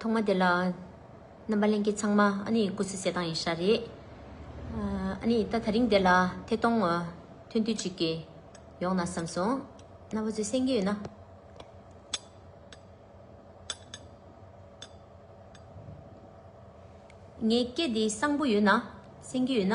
ཐོག་མ་དེ་ལ་རྣམ་པ་ལེན་མཁན་ཚང་མ་སྐུ་ཚེ་གསེར་ཐང་ཡིན་ཤག་རེད། ད་ད་རིང་དེ་ལ་ཐད་གཏོང་ཐོན་དུས་ཅིག་གི་ཡོང་ན་བསམ་སོང། རྣམ་པ་ཚོས་སེང་གེ་ཡོད་ན། ངའི་སྐད་འདི་གསང་པོ་ཡོད་ན། སེང་གེ་ཡོད་ན།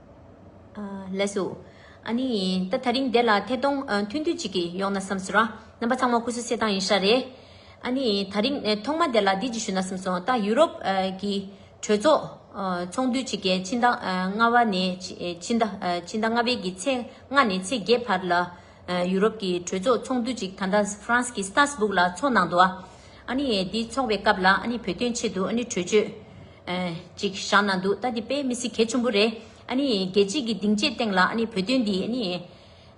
ལས་སུ། ཨ་ནི། ད་ད་རིང་འདི་ལ་ཐད་གཏོང་ཐུང་ཐུང་གཅིག་གིས་ཡོང་ན་བསམ་སོང། རྣམ་པ་ཚང་མ་ཁུ་སུ་སེ་ཐང་ཡིན་ཤག་རེད། ཨ་ནི། ད་རིང་ཐོག་མ་འདི་ལ་འདི་གཅིག་ཞུ་ན་བསམ་སོང་ད་ཡུ་རོབ་ཀྱི། གྲོས་ཚོགས། ཚོགས་འདུ་གཅིག་གི་ཕྱི་ཟླ་ལྔ་བ་ནས། ཕྱི་ཟླ་ལྔ་བའི་གི་ཚེས་ལྔ་ནས་ཚེས་བརྒྱད་བར་ལ། ཡུ་རོབ་ཀྱི་གྲོས་ཚོགས་ཚོགས་འདུ་གཅིག་ད་ལྟ་ཧྥ་རན་སི་ཀྱི་སྟར་སྦུག་ལ་ཚོགས་གནང་འདུག་ཨ། ཨ་ནི། འདི་ཚོགས་པའི་སྐབས་ལ་ཨ་ནི་བོད་དོན་ཆེད་དུ་ཨ་ནི་གྲོས་ཆོད། ཅིག་བཞག་ན་འདུག་ད་འདི་དཔེ་མི་སྲིད་གལ་ཆེན་པོ་རེད། རྒྱལ་སྤྱི་གི་སྡིངས་ཆའི་སྟེང་ལ་བོད་དོན་འདི་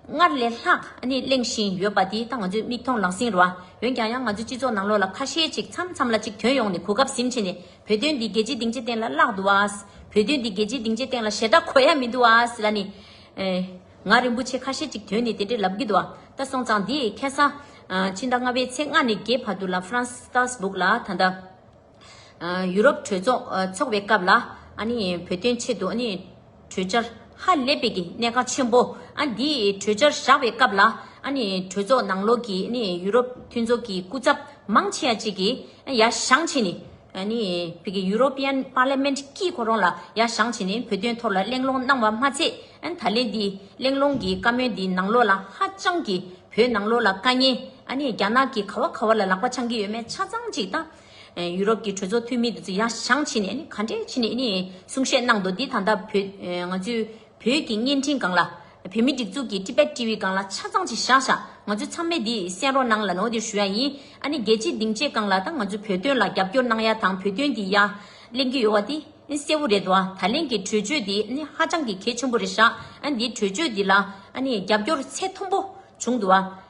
སྔར་ལས་ལྷག་གླེང་བཞིན་ཡོད་པ་འདི་ད་ང་ཚོས་མིག་མཐོང་ལག་ཟིན་རོ། འོན་ཀྱང་ཡང་ང་ཚོའི་སྤྱི་ཚོགས་ནང་ལོགས་ལ་ཁ་ཤས་ཅིག་མཚམས་མཚམས་ལ་ཅིག་དོན་ཡོང་ནས་གོ་སྐབས་ཟིན་ཕྱིན་ནས་བོད་དོན་འདི་རྒྱལ་སྤྱིའི་སྡིངས་ཆའི་སྟེང་ལ་བརླག་འདུག་ཨ། བོད་དོན་འདི་རྒྱལ་སྤྱིའི་སྡིངས་ཆའི་སྟེང་ལ་ཞེ་དྲག་གོ་ཡ་མི་འདུག་ཨ་ལ་ནི། ང་རིན་པོ་ཆེ་ཁ་ཤས་ཅིག་དོན་ནི་དེ་འདྲའི་ལབ་གི་འདུག་ཨ་ད་སོང་ཙང་འདི་ཁེ་ས། ཕྱི་ཟླ་ལྔ་བའི་ཚེས་ལྔ་ནས་བརྒྱད་བར་དུ་ལ་ཧྥ་རན་སི་སྟར་སྦུག་ལ་ད་ལྟ། ཡུ་རོབ་གྲོས་ཚོགས་འཚོགས་པའི་སྐབས་ལ་བོད་དོན་ཆེད་དུ་གྲོས་འཆར་ཧ་ལས་པའི་གནད་འགག་ཆེན་པོ་འདི་གྲོས་འཆར་བཞག་པའི་སྐབས་ལ་གྲོས་ཚོགས་ནང་ལོགས་ཀྱི་ཡུ་རོབ་མཐུན་ཚོགས་ཀྱི་སྐུ་ཚབ་མང་ཆེ་བ་ཅིག་གིས་ཡ་ཞང་བྱས་ནས་བོད་ཀྱི European Parliament དཀྱིལ་འཁོར་རོང་ལ་ཡ་ཞང་བྱས་ནས་བོད་དོན་ཐོག་ལ་གླེང་སློང་གནང་བ་མ་ཚད་ད་ལན་འདི་གླེང་སློང་གི་བཀའ་མོལ་འདི་ནང་ལོགས་ལ་ཧ་ཅང་གི་བོད་ནང་ལོགས་ལ་དཀའ་ངལ་རྒྱ་ནག་གི་ག་བ་ག་བ་ལ་ལག་པ་འཆང་གི་ཡོད་མེད་ཆ་ཚང་ཅིག་ད། ཡུ་རོབ་ཀྱི་གྲོས་ཚོགས་འཐུས་མི་འདུ་ཡང་ཞང་ཆེ་ནས་ག་འདྲས་ཆེ་ནས་གསུང་བཤད་གནང་འདུག་འདི་ད་ལྟ་ང་ཚོའི་བོད་ཀྱི་བརྙན་འཕྲིན་སྒང་ལ། བོད་མི་སྒྲིག་འཛུགས་ཀྱི Tibet TV སྒང་ལ་ཆ་ཚང་ཅིག་བཞག་བཞག་ང་ཚོ་ཚང་མས་འདི་གསན་རོགས་གནང་ལ་ནོར་འདིར་ཞུ་ཡ་ཡིན། ཨ་ནི་རྒྱལ་སྤྱིའི་སྡིངས་ཆའི་སྒང་ལ་ད་ང་ཚོ་བོད་དོན་ལ་རྒྱབ་སྐྱོར་གནང་ཡ་དང་བོད་དོན་འདི་ཡ་གླེང་གི་ཡོད་བ་འདི་གསལ་བོ་རེད་བ་ད་ལན་གྱི་གྲོས་ཆོད་འདི་ནི་ཧ་ཅང་གི་གལ་ཆེན་པོ་རེད་བཞག་ཨ་ནི་འདི་གྲོས་ཆོད་འདི་ལ་ཨ་ནི་རྒྱབ་སྐྱོར་ཚད་མཐོན་པོ་བྱུང་འདུག་བ།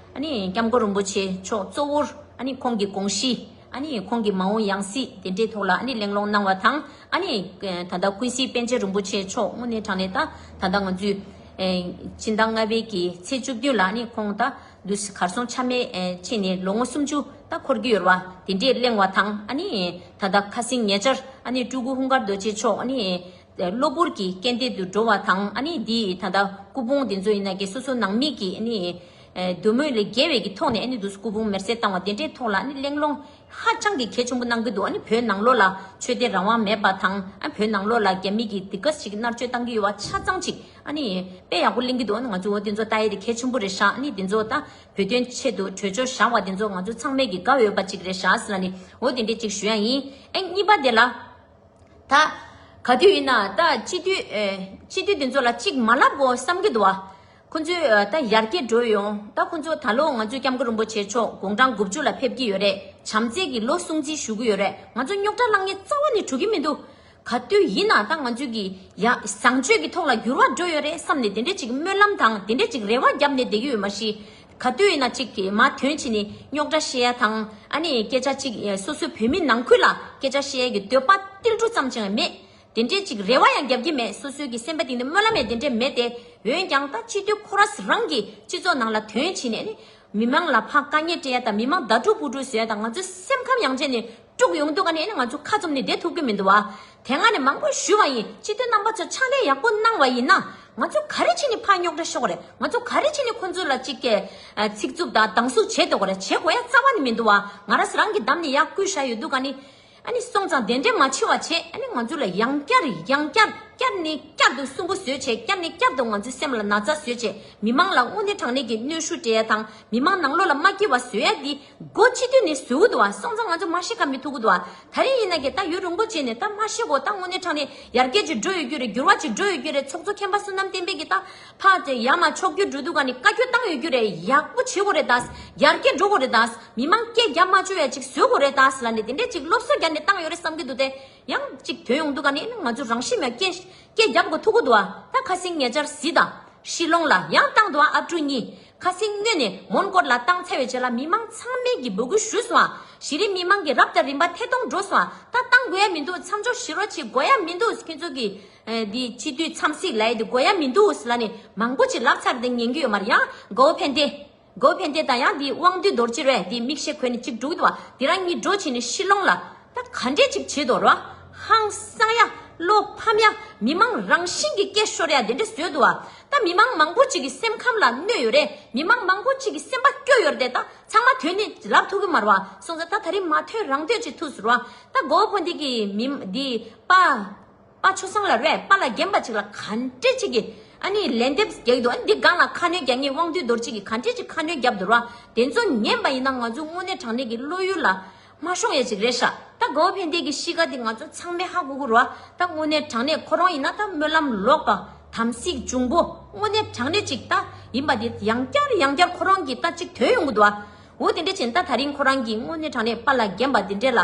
སྐྱབས་མགོན་རིན་པོ་ཆེ་མཆོག་གཙོ་བོར་ཁོང་གི་དགོངས་གཞི། ཁོང་གི་མ་འོངས་ཡང་སྲིད་དེ་འབྲེལ་ཐོག་ལ་གླེང་སློང་གནང་བ་དང། ད་ལྟ་ཀུན་གཟིགས་པཎ་ཆེན་རིན་པོ་ཆེ་མཆོག་དངོས་གནས་དྲང་གནས་ད་ལྟ་ང་ཚོས། སྤྱི་ཟླ་ལྔ་པའི་གི་ཚེས་བཅུ་བདུན་ལ་ཁོང་ད་དུས་གར་སོང་ཆ་མེད་ཕྱིན་ནས་ལོ་ངོ་སུམ་ཅུ་ད་འཁོར་གྱི་ཡོད་བ་དེ་འདྲས་གླེང་བ་དང། ད་ལྟ་ཁ་སིང་ཉེ་ཆར་སྤྲུལ་སྐུ་ཧུང་དཀར་རྡོ་རྗེ་མཆོག་གློ་བུར་གྱི་རྐྱེན་འདས་དུ་འགྲོ་བ་དང། འདི་ད་ལྟ་སྐུ་ཕུང་འདི་ཚོ་ཡིན་ན་གྱི་སོ་སོ་ནང་མི་གི་འདོད་མོས་ལས་རྒྱལ་བས་ཀྱི་ཐོག་ནས་འདུག་སྐུ་ཕུང་མེར་སྲེག་བཏང་བ་དེ་འདྲའི་ཐོག་ལ་གླེང་སློང་ཧ་ཅང་གི་གལ་ཆེན་པོ་གནང་གི་འདུག་བོད་ནང་ལོགས་ལ་ཆོས་དད་རང་དབང་མེད་པ་དང། བོད་ནང་ལོགས་ལ་རྒྱ་མི་གི་དེ་ག་ཞིག་མནར་གཅོད་བཏང་གི་ཡོད་བ་ཆ་ཚང་ཅིག་དཔེ་ཡག་པོ་གླེང་གི་འདུག་ང་ཚོ་དེ་ཚོ་ལྟ་ཡས་དེ་གལ་ཆེན་པོ་རེད་ཤག་དེ་ཚོ་ལྟ་བོད་དོན་ཆེད་དུ་གྲོས་ཆོད་བཞག་བ་དེ་ཚོ་ང་ཚོ་ཚང་མས་ཀྱི་དགའ་འོས་པ་ཅིག་རེད་ཤག་ཨོ་དེ་འདྲས་ཅིག་ཞུ་ཡ་ཡིན། གཉིས་པ་དེ་ལ། ད། ག་དུས་ཡིན་ན་ད་སྤྱི་འཐུས། སྤྱི་འཐུས་དེ་ཚོ་ལ་གཅིག་མ་ལབ་བོ་བསམ་གྱི་འདུག་ཨ། ཁོ་ཚོས་ད་ཡར་རྒྱས་འགྲོ་ཡོང་ད་ཁོ་ཚོ་ད་ལོ་ང་ཚོའི་སྐྱབས་མགོན་རིན་པོ་ཆེ་མཆོག་དགུང་གྲངས་དགུ་བཅུ་ལ་ཕེབས་ཀྱི་ཡོད་རེད་བྱམས་བརྩེ་གྱི་ལོ་སྲུང་བརྩི་ཞུ་གི་ཡོད་རེད་ང་ཚོ་རྙོག་དྲ་ལངས་ངེས་རྩ་བ་ནས་གྲུ་གི་མི་འདུག་ག་དུས་ཡིན་ན་ད་ང་ཚོས་ཀྱི་ཡ། བཟང་སྤྱོད་ཀྱི་ཐོག་ལ་འགྱུར་བ་འགྲོ་ཡོད་རེད་བསམ་ནས་དེ་འདྲའི་གཅིག་སྨོན་ལམ་དང་དེ་འདྲའི་གཅིག་རེ་བ་བརྒྱབ་ནས་བསྡད་ཀྱི་ཡོད་མ་གཞི། ག་དུས་ན་ཅིག་གིས་མ་དོན་གྱིས་ནི་རྙོག་དྲ་བཤད་ཡ་དང། ཨ་ནི་སྐད་ཆ་ཅིག་སོ་སོའི་བོད་མི་ནང་ཁུལ་ལ་སྐད་ཆ་བཤད་ཡ་གི་འདོད་པ་ཏིལ་འབྲུ་ཙམ་ཅང་མེད། དེ་འདྲའི་ཅིག་རེ་བ་ཡང་རྒྱབ་ཀྱི་མེད་སོ་སོའི་གི་སེམས་པ་དེང་ནི་སྨོན་ལམ་ཡང་དེ་འདྲའི་མེད་དེ། འོན་ཀྱང་ད་སྤྱི་འཐུས་ཁོ་ར་སི་རང་གིས་སྤྱི་ཚོགས་ནང་ལ་དོན་གྱིས་ནི། མི་མང་ལ་ཕ་དཀའ་ཉེ་སྤྲད་ཡ་དང་མི་མང་དགྲ་བྲོ་བུ་བྲོ་བཟོ་ཡ་དང་ང་ཚོའི་སེམས་ཁམས་ཡང་ཅན་ནི། དཀྲུག་ཡོང་འདུག་ག་ནས་ནི་ང་ཚོ་ཁ་ཙུམ་ནས་བསྡད་ཐུབ་ཀྱི་མི་འདུག་བ། དེ་སྔ་ནས་མང་པོ་ཞུས་བ་ཡིན་སྤྱི་འཐུས་རྣམ་པ་ཚོ་ཕྱག་ལས་ཡག་པོ་གནང་བ་ཡིན་ན། ང་ཚོ་ག་རེ་བྱས་ནས་ཕ་རྙོག་དྲ་ཤོག་རེད་ང་ཚོ་ག་རེ་བྱས་ནས་ཁོ་ཚོ་ལ་ཅིག་ཚིག་རྩུབ་དང་སྡང་ཟུག་བྱས་འདུག་ག་རེ་བྱེད་དགོས་ཡ་རྩ་བ་ནི་མི་འདུག་བ། ང་ར་རང་གི་འདམ་ནས་ཡག་བསྐུལ་བཞག་ཡོད་འདུག་ག་ནི། ཨ་ནི་སོང་ཙང་དེ་འདྲས་མ་འཆི་བ་བྱེད་ཨ་ནི་ང་ཚོ་ལ་ཡང་བསྐྱར་ཡང་བསྐྱར་བསྐྱར་ནི་བསྐྱར་དུ་སུན་པོ་བཟོས་བྱས་བསྐྱར་ནི་བསྐྱར་དུ་ང་ཚོའི་སེམས་ལ་ན་ཚ་བཟོས་བྱས་མི་མང་ལ་དངོས་གནས་དྲང་གནས་ཀྱི་གནོད་ཤུགས་སྤྲད་ཡ་དང་མི་མང་ནང་ལོག་ལ་མ་སྐྱིད་བ་བཟོས་ཡ་འདི་སྒོ་ཕྱི་དུས་ནས་ཟུག་གུ་འདུག་ཨ་སོང་ཙང་ང་ཚོ་མ་ཤེས་ཀ་མི་ཐུག་གུ་འདུག་ཨ་ད་རེས་ཡིན་ན་ཀྱེ་ད་ཡུལ་རུང་པོ་བྱས་ནས་ད་མ་ཤེས་གོ་ད་དངོས་གནས་དྲང་ནས་ཡར་རྒྱས་ཅིག་འགྲོ་ཡོད་རྒྱུ་རེད་འགྱུར་བ་ཅིག་འགྲོ་ཡོད་རྒྱུ་རེད་ཚོགས་གཙོ་མཁན་པ་བསོད་ནམས་བསྟན་འཕེལ་གྱིས་ད་ཕ་དེ་ཡ་མ་མཆོག་རྒྱུ་འགྲུལ་འདུག་ག་ནས་བཀའ་འཁྱོལ་བཏང་ཡོད་རྒྱུ་རེད་ཡག་པོ་བྱེད་གོ་རེད་ད་ཡར་རྒྱས་འགྲོ་གོ་རེད་ད་མི་མང་སྐད་རྒྱ་མ་བཅོལ་བ་ཅིག་བཟོས་གོ་རེད་ད་ལ་ནས་དེ་འདྲས་ཅིག་སློབ་གསོ་རྒྱ་ནས་བཏང་ཡོད་རེད་བསམ་གྱི་འདུག་དེ་ཡང་ཅིག་དོན་ཡོང་འདུག་ག་ནས་ང་ཚོ་རང་ཤི་མ་སྐད་རྒྱབ་གོ་ཐུག་གུ་འདུག་ཨ་ད་ཁ་སིང་ངེ་ཅར་བཟི་ད་ཤི་ལོང་ལ་ཡང་བཏང་འདུག་ཨ་ཨ་སྤྲུལ་གཉིས། ཁ་སིང་སྣེ་ནས་མོན་སྐོར་ལ་བཏང་འཚལ་བའི་རྗེས་ལ་མི་མང་ཚང་མས་ཀྱི་འབོད་སྐུལ་ཞུས་སོང། གཞི་རིམ་མི་མང་གི་རབ་དང་རིམ་པ་ཐད་གཏོང་འགྲོ་སོང། ད་བཏང་དགོས་ཡ་མི་འདུག་མཚམས་འཇོག་བྱེད་རོགས་བྱེད་དགོས་ཡ་མི་འདུག་ཁྱོད་ཚོ་གི། འདི་སྤྱི་འཐུས་འཚམས་གཟིགས་ལ་ཡ་དེ་དགོས་ཡ་མི་འདུག་ལ་ནི་མང་པོ་ཅིག་ལབ་ཚར་འདི་ཉན་རྒྱུ་ཡོད་མ་རེད་ཡང་དགོས་ཕན་བདེ། དགོས་ཕན་བདེ་དང་ཡང་འདི་དབང་འདུས་རྡོར་གཅེར་བས་འདི་མིག་ཤེལ་གོན་ནས་གཅིག་བསྒྲུགས་འདུག་བ་འདི་རང་ཉིད་འགྲོ་བྱེད་ནི་ཤི་ལོང་ལ། ད་ག་འདྲས་ཅིག་བྱེད་དོ་ར། ཧང་སང་ཡ། བློ་ཕམ་ཡ། མི་མང་རང་བཞིན་གྱི་སྐད་ཤོར་ཡ་དེ་འདྲས་བཟོས་འདུག་ཨ། ད་མི་མང་མང་པོ་ཅིག་གི་སེམས་ཁམས་ལ་གནོད་ཡོད་རེད་མི་མང་མང་པོ་ཅིག་གི་སེམས་པ་སྐྱོ་ཡོད་རེད་ད་ཚང་མ་དོན་ནི་ལབ་ཐུག་གི་མ་རུ་ཨ་སོང་ཙ་ད་ད་རིང་མ་ཐོས་རང་འདོད་ཅིག་ཐུགས་སུ་རུ་ཨ། ད་མགོ་བོ་འདི་གི་མི་འདི་པ། པ་ཆུ་སྲང་ལ་རས་པ་ལ་བརྒྱན་པ་ཅིག་ལ་ག་འདྲེ་ཅིག་གིས་ཨ་ནི་ལན་འདེབས་རྒྱག་གི་འདུག་ཨ་འདི་སྒང་ལ་ཁ་སྣོན་རྒྱག་ངེས་དབང་འདུས་རྡོར་གཅིག་གིས་ག་འདྲེ་ཅིག་ཁ་སྣོན་རྒྱབ་འདུག་ར་དེ་ཚོ་ཉན་པ་ཡིན་ན་ང་ཚོའི་དངོས་གནས་དྲང་གནས་ཀྱི་བློ་ཡུལ་ལ་མ་ཤོང་ཡ་ཅིག་རེད་ཤག་ད་དགའ་བོ་ཕན་བདེ་ཀྱི་གཤིས་ཀ་འདི་ང་ཚོ་ཚང་མའི་ཧ་གོ་གོ་ར་ད་དངོས་གནས་དྲང་གནས་ཁོ་རང་ཡིན་ན་ད་སྨོན་ལམ་ལོག་པ་དམ་སྲི་འབྱུང་པོ་དངོས་གནས་དྲང་གནས་ཅིག་ད་ཡིན་པ་འདི་ཡང་བསྐྱར་ཡང་བསྐྱར་ཁོ་རང་གིས་ད་ཅིག་དོན་ཡོང་གི་འདུག་ཨ་འོ་དེ་འདྲ་བྱས་ན་ད་ད་རིང་ཁོ་རང་གིས་དངོས་གནས་དྲང་གནས་པ་ལ་བརྒྱན་པ་འདི་འདྲེ་ལ།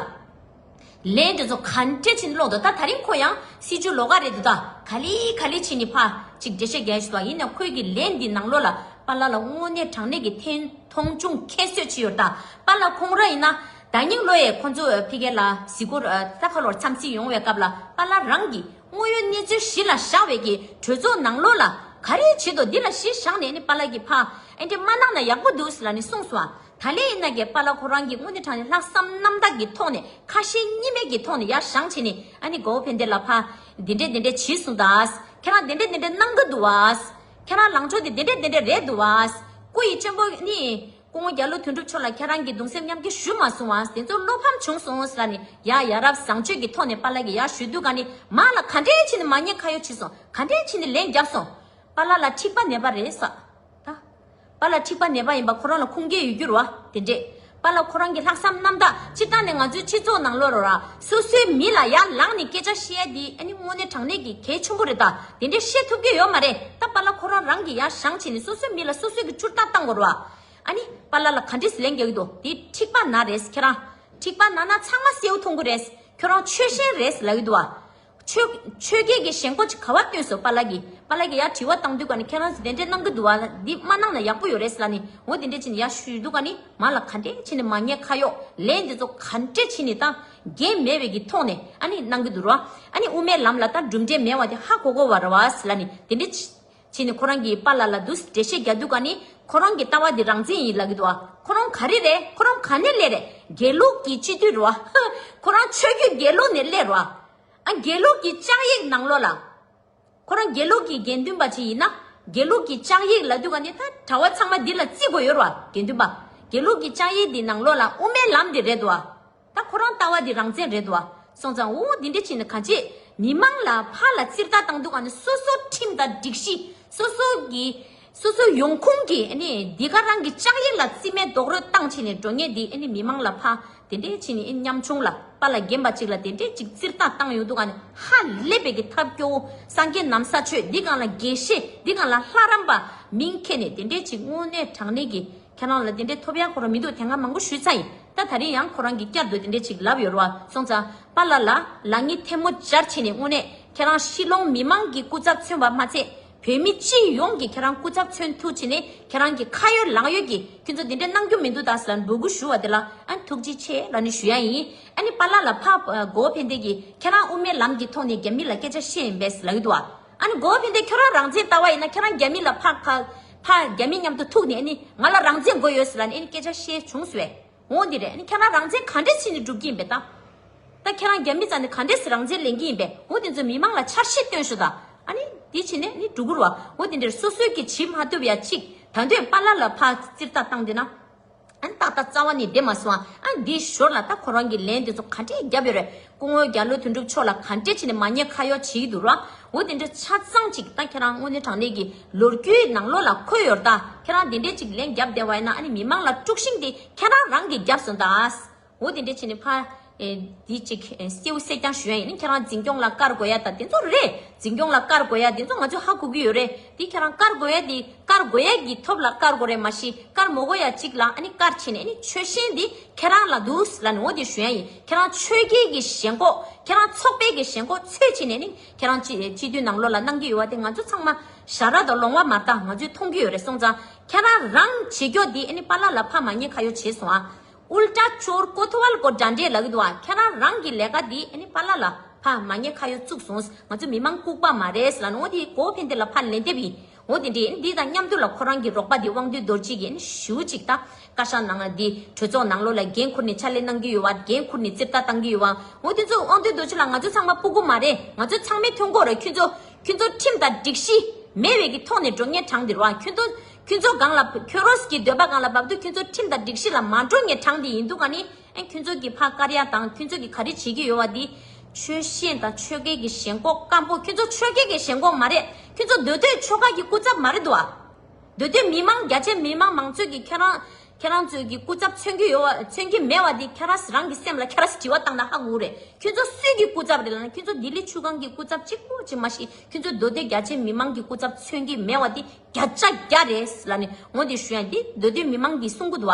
ལན། དེ་ཚོ་ག་འདྲས་བྱས་ནས་ཀློག་འདུག་ད་ད་རིང་ཁོ་ཡང་སྲིད་ཇུས་ལོག་ཀ་རེད་འདུག་ད་ག་ལི་ག་ལི་བྱས་ནས་ཕ་གཅིག་འདྲེ་ཤ་རྒྱལ་བྱས་འདུག་ཡིན་ནའང་ཁོས་ཀྱི་ལན་འདི་ནང་ལོག་ལ་པ་ལགས་ལ་དངོས་གནས་དྲང་གནས་ཀྱི་ཐེ་མཐོང་ཅུང་ཁྱད་གསོད་བྱས་ཡོད་ད་པ་ལགས་ཁོང་རང་ཡིན་ན་ད་སྙིང་ལོ་ཡས་ཁོ་ཚོ་ཕི་གེ་ལ་གཟིགས་སྐོར་རྩ་ཁ་ལོར་འཚམས་གཟིགས་ཡོང་བའི་སྐབས་ལ་པ་ལགས་རང་གིས་དངོས་ཡོད་གནས་ཚུལ་གཞི་ལ་བཞག་བས་ཀྱི་གྲོས་ཚོགས་ནང་ལོག་ལ་ག་རེ་བྱས་འདུག་འདི་ལ་གཞི་བཞག་ནས་ནི་པ་ལགས་ཀྱི་ཕ་འདྲེ་མ་གནང་ན་ཡག་པོ་འདུག་ལ་ནི་གསུངས་སོང་ད་ལེ་ཡིན་ན་གྱི་པ་ལ་ཁོ་རང་གིས་དངོས་གནས་དྲང་གནས་ལྷག་བསམ་རྣམ་དག་གི་ཐོག་ནས་ཁ་ཞེ་གཉིས་མེད་ཀྱི་ཐོག་ནས་ཡར་བཞང་བྱས་ནས་ཨ་ནི་གའུ་ཕན་བདེ་ལ་ཕ། འདི་འདྲས་འདི་འདྲས་བྱིས་གསུང་ད། ཁྱེད་རང་འདི་འདྲས་འདི་འདྲས་གནང་གི་འདུག་བ། ཁྱེད་རང་ལངས་ཕྱོགས་འདི་འདྲས་འདི་འདྲས་རེད་འདུག་བ། སྐུ་ཡི་གཅེན་པོ་ཨ་ནི། སྐུ་ངོ་རྒྱ་ལོ་དོན་གྲུབ་མཆོག་ལ་ཁྱེད་རང་གིས་གདུང་སེམས་མཉམ་སྐྱེ་ཞུ་མ་གསུང་བ་དེ་ཚོ་བློ་ཕམ་བྱུང་སོང་ལ་ནི་ཡར་ཡར་རབ་བཟང་སྤྱོད་ཀྱི་ཐོག་ནས་པ་ལ་གི་ཡར་ཞུ་དུས་ག་ནི་མ་ལ་ག་འདྲས་ཕྱིན་ནི་མ་ཉེས་ཁ་ཡོག་ཕྱིན་སོང་ག་འདྲས་ཕྱིན་ནི་ལན་རྒྱབ་སོང། པ་ལ་ལ་འཁྲིག་པ་ནད་པ་རེད་ས། པ་ལ་འཁྲིག་པ་ནད་པ་ཡིན་པ་ཁོ་རང་ལ་ཁུངས་སྐྱེལ་ཡོད་རྒྱུར་བ་དེ་འདྲས། པ་ལ་ཁོ་རང་གི་ལྷག་བསམ་རྣམ་དག་སྤྱིར་བཏང་ནས་ང་ཚོའི་སྤྱི་ཚོགས་ནང་ལོར་ར་སོ་སོའི་མི་ལ་ཡར་ལངས་ནས་སྐད་ཆ་བཤད་ཡ་འདི་ཨ་ནི་དངོས་གནས་དྲང་གནས་ཀྱི་གལ་ཆེན་པོ་རེད་ད་དེ་འདྲས་བཤད་ཐུབ་ཀྱི་ཡོད་མ་རེད་ད་པ་ལ་ཁོ་རང་རང་གིས་ཡར་བཞང་བྱས་ནས་སོ་སོའི་མི་ལ་སོ་སོའི་གི་ཅུར་རྟ་བཏང་དགོས་རུ་བ་ཨ་ནི་པ་ལ་ལ་ག་འདྲས་ལན་རྒྱག་གི་འདུག་དེ་འཁྲིག་པ་ན་རེད་ཁྱེད་རང་འཁྲིག་པ་ན་ན་ཚང་མ་སེའུ་འཐུང་གི་རེད་ཁྱོད་རང་ཆོལ་ཞེན་རེད་ལབ་ཡི་འདུག་བ། ཆོས་རྒྱལ་གྱིས་ཞེན་ཁོག་ཅིག་ག་བ་བཏོན་སོ་པཱ་ལགས་ཀྱིས་པཱ་ལགས་ཀྱིས་ཡ་དྲི་བ་བཏང་འདུག་ག་ནི་ཁྱེད་རང་གིས་དེ་འདྲས་གནང་གི་འདུག་བ་ལ་འདི་མ་གནང་ན་ཡག་པོ་ཡོད་རེད་ལ་ནི་འོ་དེ་འདྲས་བྱས་ནས་ཡ་ཞུས་འདུག་ག་ནི་མ་ལ་ག་འདྲས་བྱས་ནས་མ་ཉེས་ཁ་གཡོག་ལས་འདི་ཚོ་ག་འདྲས་བྱས་ནས་ད་རྒྱལ་མེད་བའི་གི་ཐོག་ནས་ཨ་ནི་གནང་གི་འདུག་ར་ཨ་ནི་དབུ་མའི་ལམ་ལ་ད་གྲུབ་འབྲས་མེད་བ་དེ་ཧ་གོ་གོ་བ་ར་བ་ལ་ནི་དེ་འདྲས་ཕྱིས་ནི་ཁོ་རང་གིས་པཱ་ལ་ལ་འདུས་འགྲེལ་བཤད་རྒྱག་འདུག་ག་ནི། ཁོ་རང་གི་ལྟ་བ་འདི་རང་བཙན་ཡིན་ལག་གི་འདུག་ཨ། ཁོ་རང་ག་རེ་རེད་ཁོ་རང་ག་ནས་སླེབས་རེད་དགེ་ལུགས་ཀྱི་སྤྱི་འཐུས་རུ་ཨ། ཁོ་རང་ཆོས་རྒྱུད་དགེ་ལུགས་ནས་སླེབས་རུ་ཨ། དགེ་ལུགས་ཀྱི་ལྕགས་ཡིག་ནང་ལོག་ལ། ཁོ་རང་དགེ་ལུགས་ཀྱི་དགེ་འདུན་པ་ཅིག་ཡིན་ན། དགེ་ལུགས་ཀྱི་ལྕགས་ཡིག་ལ་འདུས་ག་ནི་ད་གྲྭ་བ་ཚང་མ་འདི་ལ་བརྩི་དགོས་ཡོད་རུ་ཨ་དགེ་འདུན་པ། དགེ་ལུགས་ཀྱི་ལྕགས་ཡིག་འདི་ནང་ལོག་ལ་དབུ་མའི་ལམ་འདི་རེད་འདུག་ཨ། ད་ཁོ་རང་ལྟ་བ་འདི་རང་བཙན་རེད་འདུག་སོང་ཙང་འུ་འུ་འདི་འདྲ་བྱས་ནས་ག་བྱེད། མི་མང་ལ་ཕ་ལ་ཚིར་ལྟ་བཏང་འདུག་གནི་སོ་སོ་ཁྲིམས་དང་སྒྲིག་གཞི་སོ་སོ་གི་སོ་སོའི་ཡོང་ཁུངས་ཀྱི་གནི་འདི་ག་རང་གི་ལྕགས་ཡིག་ལ་རྩིས་མེད་རྡོག་རོལ་བཏང་བྱས་ནས་འགྲོ་ངེས་འདི་གནི་མི་མང་ལ་ཕ་དེ་འདྲས་བྱས་ནས་གནི་ཉམ་ཆུང་ལ་པ་ལ་རྒན་པ་ཅིག་ལ་དེ་འདྲས་ཅིག་ཚིར་ལྟ་བཏང་ཡོང་འདུག་གནི་ཧ་ལས་པའི་གི་ཐབས་སྐྱོ་བོ་སངས་རྒྱས་ནམ་ས་ཆོས་འདི་གང་ལ་དགེ་བཤེས་འདི་གང་ལ་ལྷ་རམས་པ་མིང་ཁྱེར་ནས་དེ་འདྲས་ཅིག་དངོས་གནས་དྲང་གནས་གི། ཁྱེད་རང་ལ་དེ་འདྲའི་ཐོབ་ཡ་ཁོ་རང་མི་འདུག་དེ་སྔ་མང་པོ་ཞུས་ཚ་ཡིན་ད་ད་རིང་ཡང་ཁོ་རང་གིས་བསྐྱར་དུ་དེ་འདྲའི་ཆིག་ལབ་ཡོད་རོ་གསུངས་ཚ་པ་ལ་ལ་ལ་ངས་ཐལ་མོ་སྦྱར་ཕྱིན་ནས་དངོས་གནས་ཁྱེད་རང་ཤི་ལོང་མི་མང་གི་སྐུ་ཚབ་མཚོན་པ་མ་ཚད་བོད་མི་སྤྱི་ཡོངས་ཀྱི་ཁྱེད་རང་སྐུ་ཚབ་མཚོན་ཐུགས་ཕྱིན་ནས་ཁྱེད་རང་གི་ཁ་ཡོད་ལག་ཡོད་ཀྱིས་ཁྱོད་ཚོ་དེ་འདྲའི་གནང་རྒྱུ་མི་འདུག་ད་ས་ལ་འབོད་སྐུལ་ཞུ་བ་དེ་ལ་ཐུགས་རྗེ་ཆེ་ལ་ནི་ཞུ་ཡ་ཡིན་ཨ་ནི་པ་ལ་ལ་ཕ་གོ་ཕན་བདེ་གིས་ཁྱེད་རང་དབུ་མའི་ལམ་གྱི་ཐོག་ནས་རྒྱ་མི་ལ་སྐད་ཆ་བཤད་ཡིན་པས་ལག་ཡོད་དུ་བ། ཨ་ནི་གོ་བོ་ཕན་བདེ་ཁྱོད་རང་རང་བཙན་ལྟ་བ་ཡིན་ན་ཁྱེད་རང་རྒྱ་མི་ལ་ཕག་ཕ། ཕ། རྒྱ་མི་མཉམ་དུ་ཐུག་ནས་ཨ་ནི་ང་ལ་རང་བཙན་དགོས་ཡོད་ཟེར་ལ་ནི་ཨ་ནི་སྐད་ཆ་བཤད་བྱུང་ཟེར་བས། འོ་འདི་རེད་ཨ་ནི་ཁྱེད་རང་རང་བཙན་ག་འདྲས་ཕྱིན་ནས་སྒྲུབ་ཀྱི་ཡིན་པས་ད། ད་ཁྱེད་རང་རྒྱ་མི་ཙམ་ནས་ག་འདྲས་རང་བཙན་ལེན་གྱི་ཡིན་པས་འོ་དེ་ཚོ་མི་མང་ལ་འཆར་གཞི་སྟོན་ཞོ་ད། ཨ་ནི་དེ་བྱས་ནས་ཨ་ནི་འབྲུ་གུར་བ་འོ་དེ་འདྲས་སོ་སོས་ཀྱི་བྱེད་མ་ཐུབ་ཡ་གཅིག་ད་འདོད་པ་ལ་ལ་ཕག་རྩིར་ལྟ་སྟངས་དེ་ན། ཨ་ཏག་ཏག་རྩ་བ་ནས་བསྡད་མ་སོང་ཨ། འདི་ཞོར་ལ་ད་ཁོ་རང་གི་ལན་དེ་ཚོ་ག་འདྲས་བརྒྱབ་ཡོད་རེད། སྐུ་ངོ་རྒྱ་ལོ་དོན་གྲུབ་མཆོག་ལ་ག་འདྲས་བྱས་ནས་མ་ཉེས་ཁ་གཡོག་བྱེད་ཀྱི་འདུག་ར་འོ་དེ་འདྲ་ཆ་ཚང་ཅིག་ད་ཁྱེད་རང་དངོས་གནས་དྲང་གནས་ཀྱི་ལོ་རྒྱུས་ནང་ལོགས་ལ་འཁོད་ཡོད་རེད་ད་ཁྱེད་རང་དེ་འདྲས་ཅིག་ལན་བརྒྱབ་བསྡད་བ་ཡིན་ན་ཨ་ནི་མི་མང་ལ་དཀྲུགས་ཤིང་དེ་ཁྱེད་རང་རང་གིས་བརྒྱབ་སོང་ད། འོ་དེ་འདྲའི་ཆེ་ནི་ཕ། འདི་གཅིག་སེའུ་བསྲེགས་རྐྱང་ཞུ་ཡ་ཡིན་ནི་ཁྱེད་རང་འཛིན་སྐྱོང་ལ་བཀར་དགོས་ཡ་ད་དེ་ཚོ་རེད། འཛིན་སྐྱོང་ལ་བཀར་དགོས་ཡ་དེ་ཚོ་ང་ཚོས་ཧ་གོ་གི་ཡོད་རེད་དེ་ཁྱེད་རང་བཀར་དགོས་ཡ་དེ་བཀར་དགོས་ཡ་གི་ཐོབ་ལ་བཀར་དགོ་རེད་མ་གཞི་བཀར་མོ་གོ་ཡ་གཅིག་ལ་ཨ་ནི་བཀར་ཆེ་ནི་ཨ་ནི་ཆོལ་ཞེན་དེ་ཁྱེད་རང་ལ་འདུག་ལ་ནི་འོ་དེ་ཞུ་ཡ་ཡིན་ཁྱེད་རང་ཆོལ་ཁའི་གི་ཞེན་ཁོག་ཁྱེད་རང་ཚོགས་པའི་གི་ཞེན་ཁོག་ཚོད་ཆེ་ནི་ཨ་ནི་ཁྱེད་རང་སྤྱི་འཐུས་ནང་ལོག་ལ་གནང་གི་ཡོད་ཡ་དེ་ང་ཚོ་ཚང་མ་ཞར་ར་དང་ལོང་བ་མ་བལྟ་ང་ཚོས་མཐོང་གི་ཡོད་རེད་སོང་ཙང་ཁྱེད་རང་རང་བྱེད་སྐྱོ་དེ་ཨ་ནི་པ་ལ་ལ་ཕ་མ་ངས་ཁ་ཡོ་བྱེད་སོང་ཨ་ཨུལ་ཏྲ་ཅོར་ཀོ་ཐོ་ཝལ་སྐོར་འདྲ་འདྲས་ལབ་ཡོད་འདུག་ཨ་ཁྱེད་རང་རང་གི་ལས་ཀ་འདི་ཨ་ནི་ཕ་ལ་ལ་ཕ་མ་ངས་ཁ་ཡོ་བཙུགས་སོང་ང་ཚོ་མི་མང་ལྐུགས་པ་མ་རེད་ལ་ནོ་འདི་གོ་ཕན་བདེ་ལ་ཕ་ལན་འདེབས་ཡིན་ཨོ་དེ་འདྲས་འདི་དང་མཉམ་དུ་ལ་ཁོ་རང་གི་རོགས་པ་འདི་དབང་འདུས་རྡོར་གཅིག་གིས་ཞུ་གཅིག་ད་བཀའ་ཤག་ནང་ལ་འདི་གྲོས་ཚོགས་ནང་ལོ་ལ་འགན་ཁུར་ནས་ཕྱག་ལས་གནང་གི་ཡོད་བ་འགན་ཁུར་ནས་རྩིབ་ལྟ་གཏང་གི་ཡོད་བ་ཨོ་དེ་ཚོ་དབང་འདུས་རྡོ་རྗེ་ལ་ང་ཚོ་ཚང་མ་སྤུ་གུ་མ་རེད་ང་ཚོ་ཚང་མའི་ཐོན་ཁོག་ར་ཁྱོད་ཚོ་ཁྱོད་ཚོ་ཁྲིམས་དང་སྒྲིག་གཞི་མེད་བས་ཀྱི་ཐོག་ནས་འགྲོ་ངས་གྲངས་འདིར་བ་ཁྱོད་ཚོ། ཁྱོད་ཚོ་གང་ལ་ཁྱོད་རོ་སི་ཀྱི་འདོད་པ་གང་ལ་བབ་འདུག་ཁྱོད་ཚོ་ཁྲིམས་དང་སྒྲིག་གཞི་ལ་མ་འགྲོ་ངེས་གྲངས་དེ་ཡིན་འདུག་ག་ནི་ཨེ་ཁྱོད་ཚོ་གི་ཕ་དཀར་ཡག་དང་ཁྱོད་ཚོ་གི་ག་རེ་བྱེད་ཀྱི་ཡོད་བ་དེ་ཆོལ་ཞེན་དང་ཆོལ་ཁའི་གི་ཞེན་ཁོག་སྐམ་པོ་ཁྱོད་ཚོ་ཆོལ་ཁའི་གི་ཞེན་ཁོག་མ་རེད་ཁྱོད་ཚོ་འདོད་དོད་ཆོལ་ཁ་གི་སྐུ་ཚབ་མ་རེད་བ། འདོད་དོད་མི་མང་རྒྱ་ཆེ་མི་དམངས་མང་ཚོད་གི་ཁྱེད་རང་ཁྱེད་རང་ཚོའི་གི་སྐུ་ཚབ་མཚོན་གི་ཡོད་བ་མཚོན་གི་མེད་བ་དེ་ཁྱེད་རང་རང་གི་སེམས་ལ་ཁྱེད་རང་དྲི་བ་བཏང་ན་ཧ་གོ་རེད་ཁྱོད་ཚོ་སུས་གི་སྐུ་ཚབ་རེད་ལ་ནི་ཁྱོད་ཚོ་ལྡི་ལི་ཆུ་སྒང་གི་སྐུ་ཚབ་གཅིག་པོ་གཅིག་མ་ཤི་ཁྱོད་ཚོ་འདོད་དོད་རྒྱ་ཆེ་མི་དམངས་གི་སྐུ་ཚབ་མཚོན་གི་མེད་བ་དེ། བརྒྱ་ཆ་བརྒྱ་རེད་ལ་ནི་ངོ་དེ་ཞུ་ཡང་དེ་མདོ་སྟོད་མི་མང་གི་གསུང་གུ་དུ་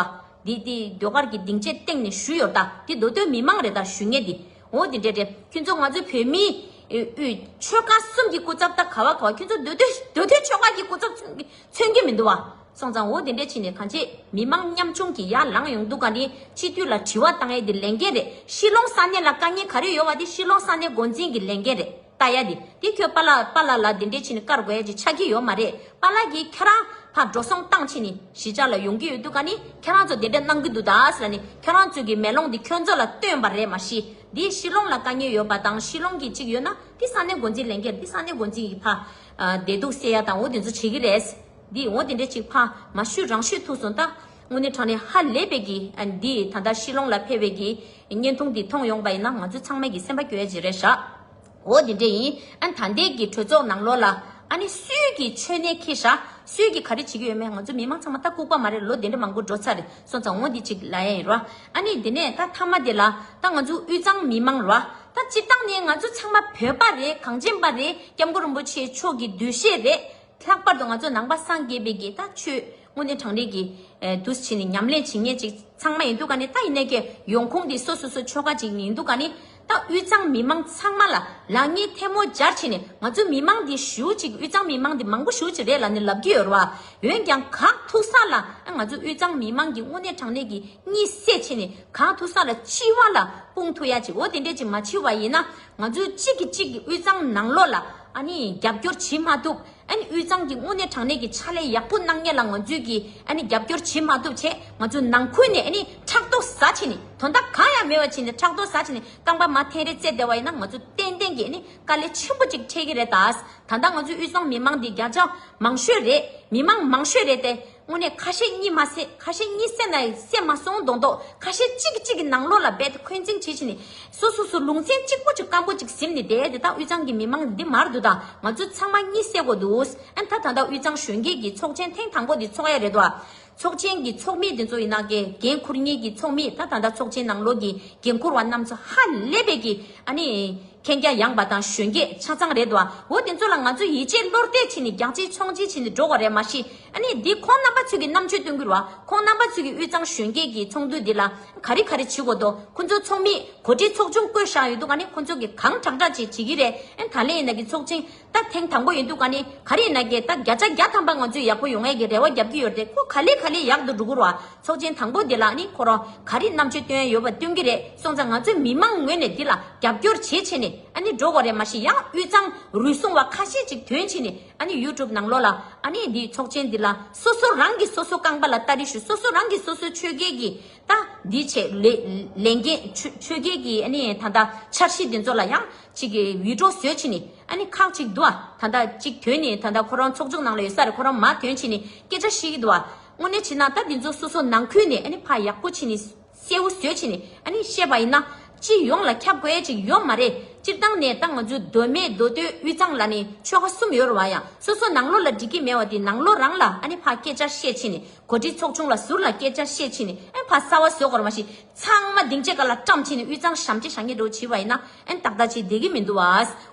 བ། དེ་ཟློས་གར་གྱི་སྡིངས་ཆའི་སྟེང་ནས་ཞུ་ཡོད་ད་དེ་མདོ་སྟོད་མི་མང་རེད་ད་ཞུ་ངེས་དེ་འོ་དེ་འདྲས་འདྲས་ཁྱོད་ཚོ་ང་ཚོའི་བོད་མིའི་ཆོལ་ཁ་གསུམ་གྱི་སྐུ་ཚབ་ད་ག་བ་ག་བ་ཁྱོད་ཚོ་མདོ་སྟོད་མདོ་སྟོད་ཆོལ་ཁ་གྱི་སྐུ་ཚབ་མཚོན་གྱི་མི་འདུག་བ་སོང་ཙང་འོ་དེ་འདྲས་ཕྱིན་ནས་གང་བྱེད་མི་མང་ཉམ་ཆུང་གི་ཡར་ལངས་ཡོང་འདུག་ག་དེ་སྤྱི་འཐུས་ལ་དྲི་བ་གཏང་ཡས་དེ་ལས་འགན་རེད་ཤི་ལོང་ས་གནས་ལ་དཀའ་ངལ་ག་རེ་ཡོད་བ་དེ་ཤི་ལོང་ས་གནས་འགོ་འཛིན་གྱི་ལས་འགན་རེད། ལྟ་ཡ་དེ་དེ་ཁྱོད་པ་ལགས་པ་ལགས་ལ་དེ་འདྲས་ཕྱིན་དཀར་དགོས་ཀྱི་ཆགས་ཀྱི་ཡོད་མ་རེད་པ་ལགས་ཀྱིས་ཁྱེད་རང་ཕར་འགྲོ་སོང་བཏང་ཕྱིན་ནས་གཞིས་ཆགས་ལ་ཡོང་གི་ཡོད་དུས་ག་ནས་ཁྱེད་རང་ཚོ་དེ་འདྲས་གནང་གི་འདུག་ད་ལ་ནས་ཁྱེད་རང་ཚོས་ཀྱི་མེ་ལོང་དེ་ཁྱོད་ཚོ་ལ་སྟོན་པ་རེད་མ་གཞི་དེ་ཤི་ལོང་ལ་དཀའ་ཉེ་ཡོད་པ་དང་ཤི་ལོང་གི་ཅིག་ཡོད་ན་དེ་ས་གནས་འགོ་འཛིན་ལས་འཁྱེར་དེ་ས་གནས་འགོ་འཛིན་གྱི་ཕ་བདེ་སྡུག་བསེ་ཡ་དང་འོ་དེ་ཚོ་བྱེད་ཀྱི་རེད་དེ་འོ་དེ་འདྲས་ཅིག་ཕ་མ་ཤུ་རང་ཤུ་ཐུག་སོང་ད་དངོས་གནས་དྲང་ནས་ཧ་ལས་པའི་གི་འདི་ད་ལྟ་ཤི་ལོང་ལ་ཕེ་བའི་གི། བརྙན་ཐུང་འདི་མཐོང་ཡོང་པ་ཡིན་ན་ང་ཚོ་ཚང་མས་ཀྱི་སེམས་པ་སྐྱོ་ཡ་ཇི་རེད་ཧྲཱི། འོ་དེ་འདྲས་ཡིན་ཨན་ད་འདས་ཀྱི་གྲོས་ཚོགས་ནང་ལོག་ལ་ཨ་ནི་སུས་ཀྱི་མཆོད་གནས་ཁེ་ཧྲཱི་སུས་ཀྱི་ག་རེ་བྱེད་ཀྱི་ཡོད་མེད་ང་ཚོ་མི་མང་ཚང་མ་ལྟ་ལྐུག་པ་མ་རེད་ལོ་དེ་འདྲས་མང་པོ་འགྲོ་ཚར་རེད་སོང་ཙང་འོ་འདི་གཅིག་ལ་ཡ་ཡིན་ཧྲཱི་ཨ་ནི་དེ་ནས་ད་མཐའ་མ་དེ་ལ་ད་ང་ཚོ་དབུས་གཙང་མི་མང་ཧྲཱི་ད་སྤྱིར་བཏང་ནས་ང་ཚོ་ཚང་མ་བོད་པ་རེད་གངས་ཅན་པ་རེད་སྐྱབས་མགོན་རིན་པོ་ཆེ་མཆོག་གི་འདུལ་བཤད་རེད། ལྷག་པར་དུ་ང་ཚོ་ནང་པ་སངས་རྒྱས་པའི་དགེ་རྟགས་ཆོས་དངོས་གནས་དྲང་རིག་གི་དུ་བྱས་ནས་ཉམས་ལེན་བྱེད་ངེས་ཅིག་ཚང་མ་ཡིན་འདུག་ག་ནི་ད་ཡིན་ནའི་གི་ཡོང་ཁུངས་དེ་སོ་སོ་སོ་ཆོལ་ཁ་ཅིག་ཡིན་འདུག་ག་ནི་ད་དབུས་གཙང་མི་མང་ཚང་མ་ལ་ལག་གཉིས་ཐལ་མོ་སྦྱར་བྱས་ནས་ང་ཚོ་མི་མང་འདི་ཞུ་ཅིག་དབུས་གཙང་མི་མང་འདི་མང་པོ་ཞུ་ཅིག་རེད་ལ་ནི་ལབ་ཀྱི་ཡོད་རེད་བ་འོན་ཀྱང་གང་ཐུག་ས་ལ་ང་ཚོ་དབུས་གཙང་མི་མང་གི་དངོས་གནས་དྲང་གནས་གི་གཉིད་སད་བྱས་ནས་གང་ཐུག་ས་ལ་འཆི་བ་ལ་དཔུང་ཐུག་ཡ་ཅིག་འོ་དེ་འདྲས་ཅིག་མ་འཆི་བ་ཡིན་ན་ང་ཚོས་གཅིག་གིས་གཅིག་གི་དབུས་གཙང་ནང་ལོགས་ལ་རྒྱབ་སྐྱོར་བྱེད་མ་ཐུབ། དབུས་གཙང་གི་དངོས་གནས་དྲང་གནས་ཀྱི་ཕྱག་ལས་ཡག་པོ་གནང་མཁན་ལ་ང་ཚོས་ཀྱིས་རྒྱབ་སྐྱོར་བྱེད་མ་ཐུབ་ཆེད་ང་ཚོས་ནང་ཁུལ་ནས་ཕྲག་དོག་ཟ་བྱས་ནས་དོན་དག་གང་ཡང་མེད་པ་བྱས་ནས་ཕྲག་དོག་ཟ་བྱས་ནས་རྐང་པ་མ་འཐེན་རེ་བརྩད་བསྡད་བ་ཡིན་ན་ང་ཚོས་ཏན་ཏན་གྱིས་དཀའ་ལས་ཆེན་པོ་གཅིག་འཕྲད་ཀྱི་རེད་ད། ད་ལྟ་ང་ཚོའི་དབུས་གཙང་མི་མང་འདི་བརྒྱ་ཆ་མང་ཤོས་རེད་མི་མང་མང་ཤོས་རེད་དེ། དངོས་གནས་ཁ་ཞེ་གཉིས་མ་བསད་ཁ་ཞེ་གཉིས་བསད་ན་བསད་མ་སོང་མདོག་མདོག་ཁ་ཞེ་གཅིག་གིས་གཅིག་གི་ནང་ལོགས་ལ་འབད་དེ་འཁོན་འཛིང་བྱེད་བཞིན་ནས་སུ་སུ་སུ་ལུང་ཚན་གཅིག་པོ་གཅིག་སྐམ་པོ་གཅིག་གཟིམ་ནས་བསྡད་དེ་ད་དབུས་གཙང་གི་མི་མང་འདི་མར་འདུག་དང་ང་ཚོ་ཚང་མ་གཉིད་སད་དགོས་འདུག་ཨ་མཐའ་ད་ལྟ་དབུས་གཙང་གཞོན་སྐྱེས་ཀྱི་ཚོགས་ཆེན་ཐེངས་དང་པོ་འདི་ཚོགས་ཡ་རེད་དོ། ཚོགས་ཆེན་གྱི་ཚོགས་མི་འདི་ཚོ་ཡིན་ན་དགེ་རྒན་འཁུར་ངེས་ཀྱི་ཚོགས་མི་ད་ད་ལྟ་ཚོགས་ཆེན་ནང་ལོགས་ཀྱི་འགན་འཁུར་བ་རྣམས་ཚོ་ཧ་ལས་པའི་གི་ཨ་ནི་མཁྱེན་རྒྱ་ཡངས་པ་དང་གཞོན་སྐྱེས་ཆ་ཚང་རེད་དོ་འོ་དེ་ཚོ་ལ་ང་ཚོ་ཡིད་ཆེས་བློར་གཏད་བྱེད་ནས་རྒྱག་བྱེད་མཆོང་བྱེད་བྱེད་ནས་འགྲོ་བ་རེད་མ་གཞི་ཨ་ནི་འདི་ཁོང་རྣམ་པ་ཚོས་ཀྱི་རྣམ་དཔྱོད་སྟོན་ཁུལ་བ་ཁོང་རྣམ་པ་ཚོས་ཀྱི་དབུས་གཙང་གཞོན་སྐྱེས་ཀྱི་ཚོགས་འདུ་འདི་ལ་ག་རེ་ག་རེ་བྱེད་དགོས་འདུག་ཁོང་ཚོའི་ཚོགས་མིས་གོ་སྒྲིག་ཚོགས་ཆུང་བསྐོས་བཞག་ཡོད་འདུག་ག་ནི་ཁོང་ཚོས་ཀྱི་གང་དྲག་དྲག་ཅིག་བྱེད་ཀྱི་རེད་ད་ལན་ཡིན་ན་གྱི་ཚོགས་ཆེན་ད་ཐེངས་དང་པོ་ཡིན་འདུག་ག་ནི་ག་རེ་ཡིན་ན་གྱི་ད་བརྒྱ་ཆ་བརྒྱ་ཐམ་པ་ང་ཚོས་ཡག་པོ་ཡོང་ཨེ་གྱི་རེ་བ་རྒྱབ་ཀྱི་ཡོད་རེད་ཁོ་ག་ལེ་ག་ལེ་ཡག་ཏུ་འགྲོ་ཁུལ་བ་ཚོགས་ཆེན་དང་པོ་འདི་ལ་ཨ་ནི་ཁོ་རང་ག་རེ་རྣམ་དཔྱོད་སྟོན་ཡ་ཡོད་པ་སྟོན་གྱི་རེད་སོང་ཙང་ང་ཚོས་མི་མང་ངོས་ནས་འདི་ལ་རྒྱབ་སྐྱོར་བྱེད་ཆེད་ནས་ཨ་ནི་འགྲོ་དགོས་རེད་མ་གཞི་ཡང་དབུས་གཙང་རུལ་སུང་བ་ཁ་ཤས་ཅིག་དོན་ཆེད་ནས། ཨཱ་ནི YouTube ནང་ལོག་ལ་ཨཱ་ནི་འདི་ཚོགས་ཆེན་འདི་ལ་སོ་སོ་རང་གི་སོ་སོ་རྐང་པ་ལ་ལྟ་རི་ཞུ་སོ་སོ་རང་གི་སོ་སོའི་ཆོས་རྒྱལ་གྱི་ད་འདི་བྱེད་ལས་འགན་ཆོས་རྒྱལ་གྱི་ཨཱ་ནི་ད་ལྟ་འཆར་གཞི་འདི་ཚོ་ལ་ཡང་ཅིག་འུད་སྒྲོག་བཟོས་ཕྱིན་ནི་ཨཱ་ནི་ཁག་ཅིག་འདུག་ད་ལྟ་ཅིག་དོན་ནི་ད་ལྟ་ཁོ་རང་ཚོགས་ཆུང་ནང་ལ་ཡོད་ས་རེད་ཁོ་རང་མ་དོན་ཕྱིན་ནི་སྐད་ཆ་ཤིག་གི་འདུག་དངོས་གནས་ཕྱིན་ན་ད་འདི་ཚོ་སོ་སོ་ནང་ཁུལ་ནས་ཨཱ་ནི་ཕ་ཡག་པོ་ཕྱིན་ནི། གསལ་བོ་བཟོས་ཕྱིན་ཨ་ནི་བཤད་པ་ཡིན་ན། སྤྱི་ཡོངས་ལ་ཁྱབ་དགོས་ཅིག་ཡོད་མ་རེད། སྤྱིར་བཏང་ནས་ད་ང་ཚོའི་མདོ་སྨད་མདོ་སྟོད་དབུས་གཙང་ལ་ནི་ཆོལ་ཁ་གསུམ་ཡོད་རུང་བ་ཡང་སོ་སོ་ནང་ལོགས་ལ་འགྲིག་གི་མེད་བ་དེ་ནང་ལོགས་རང་ལ་ཨ་ནི་ཕ་སྐད་བཅར་བཤད་ཕྱིན་གོ་སྒྲིག་ཚོགས་ཆུང་ལ་ཟུར་ལ་སྐད་བཅར་བཤད་ཕྱིན་ཨ་ནི་ཕ་གསར་བ་བཟོས་གོར་མ་ཞིག་ཚང་མ་སྡིངས་ཆའི་ག་ལ་བཀྲམ་ཕྱིན་དབུས་གཙང་ཞམ་གཅིག་ཞག་གཉིས་འགྲོ་བྱིས་པ་ཡིན་ན་ཨ་ནི་ཏག་ཏག་བྱེད་བདེ་གི་མི་འདུག་བ་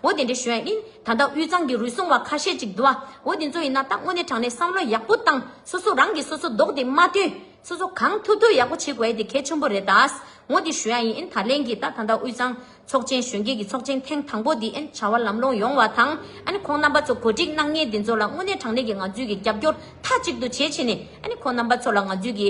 འོ་དེ་འདྲའི་ཞོན་ཨ་ནི་ད་ལྟ་དབུས་གཙང་གི་རུལ་སུངས་བ་ཁ་ཤས་ཅིག་འདུག་བ་འོ་དེ་ཚོ་ཡིན་ན་ད་དངོས་གནས་དྲང་གནས་བསམ་བློ་ཡག་པོ་བཏང་སོ་སོ་རང་གིས་སོ་སོ་བཟློག་སྟེ་མ་བཏོན། ཚོ་ཚོ་གང་ཐུབ་ཐུབ་ཡག་པོ་བྱེད་དགོས་དེ་གལ་ཆེན་པོ་རེད་ད། ངོ་དེ་ཞུ་ཡག་ཡིན་ཨིན་ད་ལན་གྱི་ད་ད་ལྟ་དབུས་གཙང་ཚོགས་ཆེན་གཞོན་སྐྱེས་ཀྱི་ཚོགས་ཆེན་ཐེངས་དང་པོ་དེ་ཨིན་བྱ་བ་ལམ་ལྷོང་ཡོང་བ་དང་ཨིན་ཁོང་རྣམ་པ་ཚོ་གོ་སྒྲིག་གནང་མཁན་དེ་ཚོ་ལ་དངོས་གནས་དྲང་གནས་ཀྱི་ང་ཚོས་ཀྱི་རྒྱབ་སྐྱོར་མཐའ་གཅིག་ཏུ་བྱེད་ཕྱིན་ནས་ཨིན་ཁོང་རྣམ་པ་ཚོ་ལ་ང་ཚོས་ཀྱི་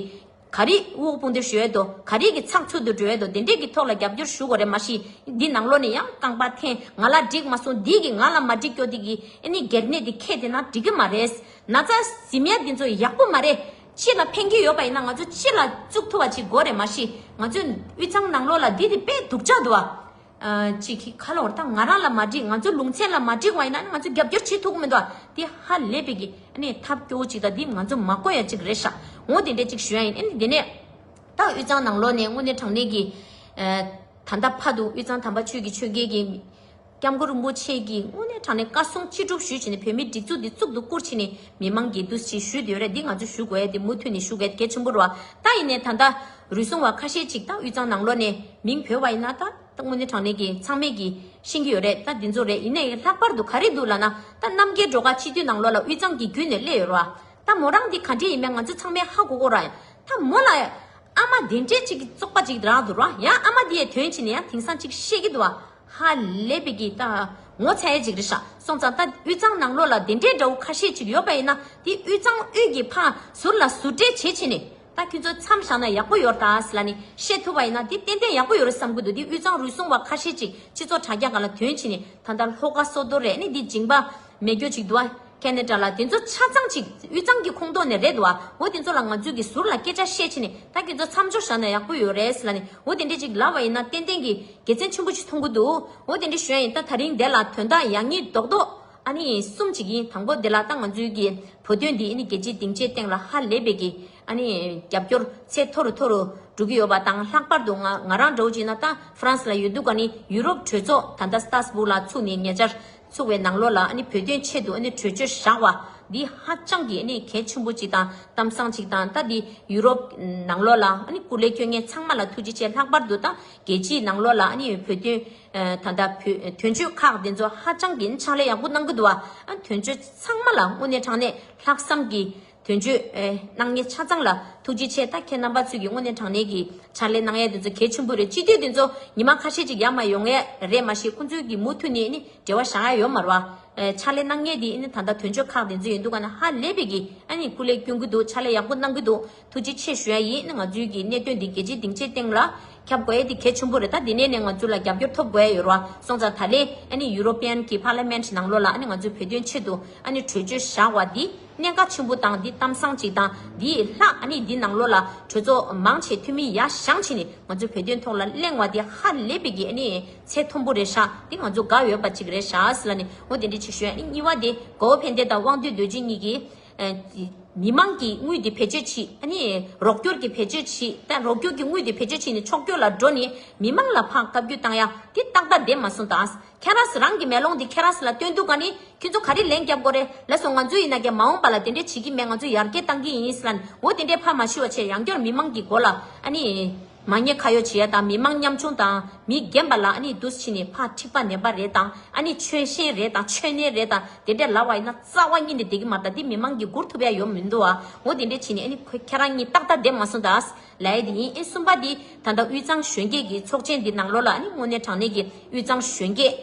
ག་རེ་དབུགས་དཔུང་འདེབས་ཞུ་ཡོད་དོ་ག་རེ་གྱི་ཚགས་ཚུད་དུ་འགྲོ་ཡོད་དོ་དེ་འདྲས་ཀྱི་ཐོག་ལ་རྒྱབ་སྐྱོར་ཞུ་དགོས་རེད་མ་གཞི་འདི་ནང་ལོགས་ནས་ཡང་རྐང་པ་འཐེན་ང་ལ་འགྲིག་མ་སོང་འདི་གི་ང་ལ་མ་འགྲིག་ཀྱོ་དེ་གི་ཨིན་གེར་གནས་དེ་ཁེ་དེ་ན་འགྲིག་གི་མ་རེད་ན་ཚ་ཟིམ་ཡ་དེ་ཚོ་ཡག་པོ་མ་རེད། ཕྱི་ལ་འཕེན་རྒྱུ་ཡོད་པ་ཡིན་ན་ང་ཚོ་ཕྱི་ལ་བཙུགས་ཐུབ་པ་ཅིག་དགོས་རེད་མ་གཞི་ང་ཚོས་དབུས་གཙང་ནང་ལོགས་ལ་འདི་དེ་སྤེལ་འདུག་ཅག་འདུག་བ། ཅིག་གིས་ཁ་ལོར་དང་ང་རང་ལ་མ་འགྲིག་ང་ཚོ་ལུང་ཚན་ལ་མ་འགྲིག་བ་ཡིན་ན་ང་ཚོས་རྒྱབ་སྐྱོར་བྱེད་ཐུབ་གི་མི་འདུག་བ། འདི་ཧ་ལས་པའི་གི་ནི་ཐབས་སྐྱོ་བོ་ཅིག་དང་འདི་ང་ཚོ་མ་བཀོད་ཡ་ཅིག་རེད་ཤག་འོ་དེ་འདྲས་ཅིག་ཞུ་ཡ་ཡིན་ཨེ་འདི་ནས། ད་དབུས་གཙང་ནང་ལོགས་ནས་དངོས་གནས་དྲང་གནས་ཀྱི། ད་ད་ཕ་འདུག་དབུས་གཙང་དམ་པ་ཆོས་ཀྱི་ཆོས་རྒྱལ་གྱི། སྐྱབས་མགོན་རིན་པོ་ཆེ་གིས་དངོས་གནས་དྲང་གནས་བཀའ་གསུང་ཅི་སྒྲུབ་ཞུས་ཕྱིན་ནས་བོད་མིའི་སྒྲིག་འཛུགས་འདི་གཙུག་ཏུ་བཀུར་ཕྱིན་ནས་མི་མང་འགལ་འདུ་ཞིག་ཞུས་ཡོད་རེད་འདི་ང་ཚོས་ཞུ་དགོས་ཡ་འདི་མུ་མཐུད་ནས་ཞུ་གལ་གལ་ཆེན་པོ་རུ་ད་ཡིན་ནས་ད་ལྟ་རུལ་སུང་བ་ཁ་ཤས་ཅིག་ད་དབུས་གཙང་ནང་ལོག་ནས་མིང་བོས་བ་ཡིན་ན་ད་ད་དངོས་གནས་དྲང་གནས་ཀྱི་ཚང་མས་གི་ཤེས་ཀྱི་ཡོད་རེད་ད་འདི་ཚོ་རེད་ཡིན་ནའི་ལྷག་པར་དུ་ག་རེ་འདུག་ལ་ན་ད་རྣམ་རྒྱལ་འགྲོ་ཁ་སྤྱི་འཐུས་ནང་ལོག་ལ་དབུས་གཙང་གི་བརྒྱུད་ནས་སླེ་ཡོད་རུ་ད་མོ་རང་འདི་ག་འདྲེ་ཡིན་མེད་ང་ཚོས་ཚང་མས་ཧ་གོ་གོ་ར་ད་མོ་ལ་ཨ་མ་དེ་འདྲེ་ཅིག་གི་ཙོག་པ་ཅིག་རག་འདུག་ར་ཡ་ཨ་མ་འདི་ཡའི་དོན་ཕྱིན་ནས་ཡ་དེང་སང་ཅིག་ཤེས་ཀྱི་འདུག་ཧ་ལས་པའི་གི་ཏའ། ངོ་ཚའི་འཇིགས་རི་ཤ་སོང་ཙང་ད་དབུས་གཙང་ནང་ལོགས་ལ་དེ་འདྲའི་དགྲ་བོ་ཁ་ཤས་ཅིག་ཡོད་པ་ཡིན་ན་དེ་དབུས་གཙང་དབུས་ཀྱི་ཕ་ཟུར་ལ་ཟུར་འདྲེ་བྱེད་ཕྱིན་ནས་ད་ཁྱོད་ཚོ་མཚམས་བཞག་ན་ཡག་པོ་ཡོར་དྭགས་ལ་ནི་བཤད་ཐུབ་པ་ཡིན་ན་དེ་ཏན་ཏན་ཡག་པོ་ཡོ་རེད་བསམ་གི་འདུག་དེ་དབུས་གཙང་རུལ་སུང་བ་ཁ་ཤས་ཅིག་སྤྱི་ཚོགས་དྲ་རྒྱ་ག་ལ་དོན་ཕྱིན་ནས་ད་ལྟ་ལྷོ་ཁ་སོག་རྡོ་རས་ནི་དེ་འཇིང་པ། མེད་གྱོ་ཅིག་འདུག་ཨཁྱེད་ནས་དྲ་ལ་དེ་ཚོ་ཆ་ཚང་ཅིག་དབུས་གཙང་གི་ཁོངས་གཏོགས་ནས་རེད་འདུག་ཨ་འོ་དེ་ཚོ་ལ་ང་ཚོས་ཀྱི་ཟུར་ལ་སྐད་ཆ་བཤད་ཕྱིན་ནས་ད་ཁྱེད་ཚོ་མཚམས་སྦྱོར་བཞག་ན་ཡག་པོ་ཡོད་རེད་ལ་ནི་འོ་དེ་འདྲས་ཅིག་ལབ་བ་ཡིན་ན་ཏན་ཏན་གྱི་དགེ་མཚན་ཆེན་པོ་ཅིག་མཐོང་གི་འདུག་འོ་དེ་འདྲས་ཞོན་ཡིན་ད་ད་རིང་འདས་ལ་དོན་དག་ཡག་ཉིས་རྡོག་རྡོག་ཨ་ནི་གསུམ་ཅིག་ཡིན་དང་པོ་འདི་ལ་ད་ང་ཚོའི་ཀྱི་བོད་དོན་འདི་ནི་རྒྱལ་སྤྱིའི་སྡིངས་ཆའི་སྟེང་ལ་ཧ་ལས་པའི་ཀྱི་ཨ་ནི་རྒྱབ་སྐྱོར་ཚད་མཐོ་རུ་མཐོ་རུ་འགྲོ་གི་ཡོད་པ་དང་ལྷག་པར་དུ་ང་རང་འདྲ་བོ་ཅིག་ན་ད་ཧྥ་རན་སི་ལ་ཡོད་འདུག་ཨ་ནི་ཡུ་རོབ་གྲོས་ཚོགས་ད་ལྟ་སྟར་སྦུག་ལ་ཚུགས་ནས་ཉེ་ཆར། ཚུགས་བའི་ནང་ལོགས་ལ་བོད་དོན་ཆེད་དུ་གྲོས་ཆོད་བཞག་བ་འདི་ཧ་ཅང་གི་གལ་ཆེན་པོ་ཅིག་དང་གཏམ་བཟང་ཅིག་དང་ད་འདི་ཡུ་རོབ་ནང་ལོགས་ལ་སྐུ་ལས་ཁྱོད་ངན་ཚང་མ་ལ་ཐུགས་རྗེ་ཆེ་ལྷག་པར་དུ་ད་རྒྱལ་སྤྱིའི་ནང་ལོགས་ལ་བོད་དོན་ད་ད་བོད་དོན་ཆོས་ཁག་འདི་ཚོ་ཧ་ཅང་གི་ཕྱག་ལས་ཡག་པོ་གནང་གི་འདུག་བ་དོན་ཆོས་ཚང་མ་ལ་དངོས་གནས་དྲང་གནས་ལྷག་བསམ་གྱི། དོན་བརྗོད། སྣང་བརྙན་ཆ་ཚང་ལ་ཐུགས་རྗེ་ཆེ་ད་ཁྱེད་རྣམ་པ་ཚོས་ཀྱི་དངོས་གནས་དྲང་གནས་ཀྱི་ཕྱག་ལས་གནང་ཡས་དེ་ཚོ་གལ་ཆེན་པོ་རེད་སྤྱི་འཐུས་དེ་ཚོ་ཉི་མ་ཁ་ཤས་ཅིག་ཡ་མ་ཡོང་ཡས་རེད་མ་ཤེས་ཁོང་ཚོའི་གི་མུ་མཐུད་ནས་ནི་འབྲེལ་བ་བཞག་ཡ་ཡོད་མར་བ། ཕྱག་ལས་གནང་ངེས་དེ་ནི་ད་ལྟ་དོན་བརྗོད་ཁག་དེ་ཚོ་ཡིན་འདུག་ག་ན་ཧ་ལས་པའི་གི་ནི་སྐུ་ལས་སྐྱོན་གི་འདུག་ཕྱག་ལས་ཡག་པོ་གནང་གི་འདུག་ཐུགས་རྗེ་ཆེ་ཞུ་ཡ་ཡིན་ནི་ང་ཚོའི་གི་གནད་དོན་འདི་རྒྱལ་སྤྱིའི་སྡིངས་ཆའི་སྟེང་ལ་ཁྱབ་དགོས་ཡས་དེ་གལ་ཆེན་པོ་རེད་ད་དེ་ནས་ནི་ང་ཚོ་ལ་རྒྱབ་སྐྱོར་ཐོབ་དགོས་ཡས་ཡོད་ར་བ་སོང་ཙང་ད་ལེ་ནི European གི Parliament ནང་ལོགས་ལ་ནི་ང་ཚོའི་བོད་དོན་ཆེད་དུ་ནི་གྲོས་ཆོད་བཞག་བ་དེ་གནད་འགག་ཆེན་པོ་དང་འདི་གཏམ་བཟང་ཅིག་དང་འདི་ལྷག་ཨ་ནི་འདི་ནང་ལོགས་ལ་གྲོས་ཚོགས་མང་ཆེ་འཐུས་མི་ཡ་ཞང་ཆེ་ནས་ང་ཚོའི་བོད་དོན་ཐོག་ལ་གླེང་བ་འདི་ཧ་ལས་པའི་གི་ཨ་ནི་ཚད་མཐོན་པོ་རེད་ཤག་འདི་ང་ཚོ་དགའ་ཡོད་པ་ཅིག་རེད་ཤག་ལ་ནི་ངོ་དེ་འདྲི་ཆེ་ཞུ་ཨ་ནི་གཉིས་བ་དེ་གོ་བོ་ཕན་བདེ་དང་དབང་འདུས་རྡོ་རྗེ་གཉིས་ཀྱིས་མི་མང་གི་དངུལ་དེ་བེད་སྤྱོད་ཕྱིས་ཨ་ནི་རོགས་སྐྱོར་གི་བེད་སྤྱོད་ཕྱིས་ཏེ་རོགས་སྐྱོར་གི་དངུལ་དེ་བེད་སྤྱོད་ཕྱིས་ནས་ཕྱོགས་སྐྱོར་ལ་འགྲོ་ནས་མི་མང་ལ་ཕང་བཀའ་བརྒྱུད་བཏང་ཡ་འདི་ཏག་ཏག་བདེན་མ་སོང་དང་ཁྱེད་རང་རང་གི་མེ་ལོང་དེ་ཁྱེད་རང་ལ་སྟོན་འདུག་ག་ནི། ཁྱེད་ཚོ་ག་རེ་ལན་བརྒྱབ་དགོ་རེ། ལེ་སོང་ང་ཚོ་ཡིན་ན་རྒྱ་མ་འོང་པ་ལ་དེ་འདྲས་བྱེད་ཀྱི་མེད་ང་ཚོ་ཡར་རྒྱས་གཏང་གི་ཡིན་ས་ལན། འོ་དེ་འདྲས་ཕ་མ་ཤི་བ་ཆེད་རང་སྐྱོར་མི་མང་གི་འགོ་ལ། ཨ་ནི། མ་ཉེས་ཁ་ཡོག་བྱེད་ཡ་དང་མི་མང་ཉམ་ཆུང་དང། མི་རྒན་པ་ལ་ཨ་ནི་དུས་ཕྱིས་ནས་ཕ་འཁྲིག་པ་ནད་པ་རེད་དང་ཨ་ནི་ཆོལ་ཞེན་རེད་དང་ཆོལ་ནད་རེད་དང་དེ་འདྲས་ལབ་བ་ཡིན་ན་རྩ་བ་གཉིད་ནས་བསྡད་ཀྱི་མ་རེད་ད་འདི་མི་མང་གི་མགུར་ཐུབ་ཡ་ཡོ་མི་འདུག་ཨ་འོ་དེ་འདྲས་བྱེད་ནས་ཨ་ནི་ཁྱེད་རང་གཉིས་ཏག་ཏག་བསྡད་མ་སོང་ད་ཨ། ལས་དེ་ཡིན། གསུམ་པ་དེ་ད་ལྟ་དབུས་གཙང་གཞོན་སྐྱེས་ཀྱི་ཚོགས་ཆེན་འདི་ནང་ལོགས་ལ་དངོས་གནས་དྲང་གནས་ཀྱི་དབུས་གཙང་གཞོན་སྐྱེས་